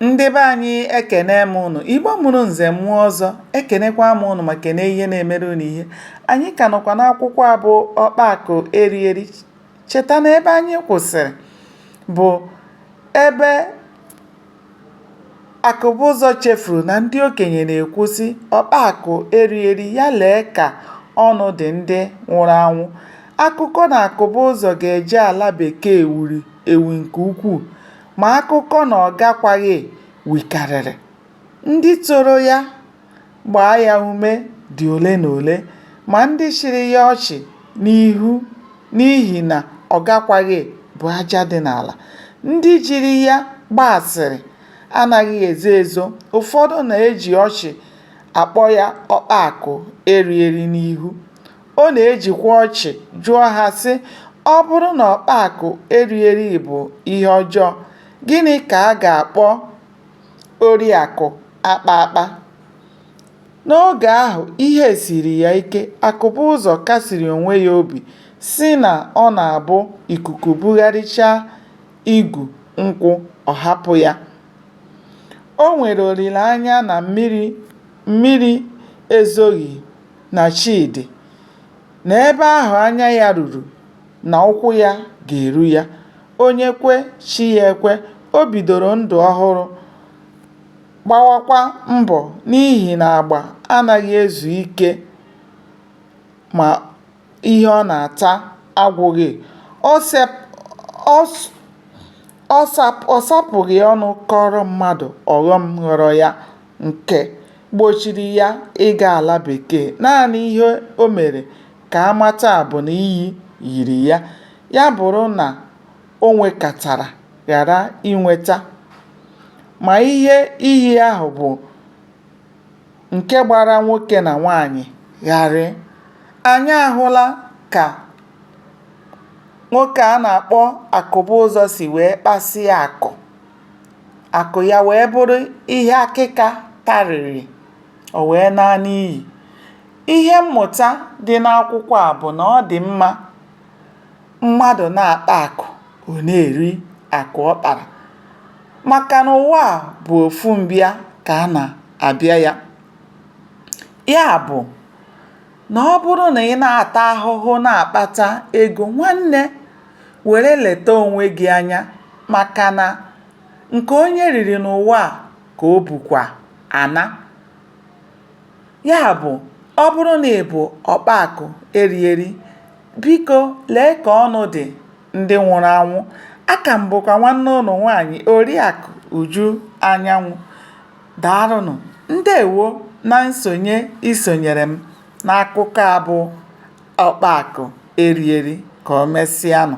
Ndị be anyị ekene m ụnụ, Igbo mụrụ nze mụọ ọzọ, ekenekwa m ụnụ ma kene ihe na-emere ụnụ ihe. Anyị ka nọkwa n'akwụkwọ a bụ Ọkpa Akụ Eri Eri. Cheta na ebe anyị kwụsịrị bụ ebe Akụbụzọ chefuru na ndị okenye na-ekwu sị ọkpa akụ eri eri ya lee ka ọnụ dị ndị nwụrụ anwụ. Akụkọ na Akụbụzọ ga-eje ala bekee wuru ewu nke ukwuu. ma akụkọ na ọ gakwaghị wukarịrị. Ndị toro ya gbaa ya ume dị ole na ole, ma ndị chịrị ya ọchị n'ihu n'ihi na ọ gakwaghị bụ aja dị n'ala. Ndị jiri ya gbaa asịrị anaghị ezo ezo, ụfọdụ na-eji ọchị akpọ ya ọkpa akụ eri eri n'ihu. Ọ na-ejikwa ọchị jụọ ha, sị, Ọ bụrụ na ọkpa akụ eri eri bụ ihe ọjọọ, gịnị ka a ga-akpọ ori akụ akpa akpa? N'oge ahụ, ihe siiri ya ike. Akụbụzọ kasiri onwe ya obi, sị na ọ na-abụ ikuku bugharịchaa igu nkwụ, ọ hapụ ya. O nwere olileanya na mmiri ezoghị. na chi dị na ebe ahụ anya ya ruru na ụkwụ ya ga-eru ya, onye kwe chi ya ekwe, o bidoro ndụ ọhụrụ gbawakwa mbọ n'ihi na agba anaghị ezu ike ma ihe ọ na-ata agwụghị, ọ sapụghị ọnụ kọọrọ mmadụ ọghọm ghọrọ ya. nke gbochiri ya ịga ala Bekee, naanị ihe o mere ka a mata bụ na iyi yiri ya. Ya bụrụ na o nwekatara ghara inweta ma ihe iyi ahụ bụ nke gbara nwoke na nwaanyị gharịị, anyị ahụla ka nwoke a na-akpọ Akụbụzọ si wee kpasịa akụ. akụ ya wee bụrụ ihe akịka tarịrị, o wee naa n'iyi. Ihe mmụta dị n'akwụkwọ a bụ na ọ dị mma mmadụ na-akpa akụ ọ na-eri akụ ọ kpara maka na ụwa a bụ ofu mbịa ka a na-abịa ya, ya bụ na ọ bụrụ na ị na-ata ahụhụ na-akpata ego nwanne were leta onwe gị anya maka na nke onye riri n'ụwa a ka o bukwa ana ya bụ ọ bụrụ na ị bụ ọkpa akụ eri eri biko lee ka ọnụ dị ndị nwụrụ anwụ aka m bụkwa nwanne ụnụ nwaanyị oriakụ uju anyanwụ daalụnụ ndewo na nsonye isonyere m n'akụkọ a bụ ọkpa akụ eri eri ka o mesịanụ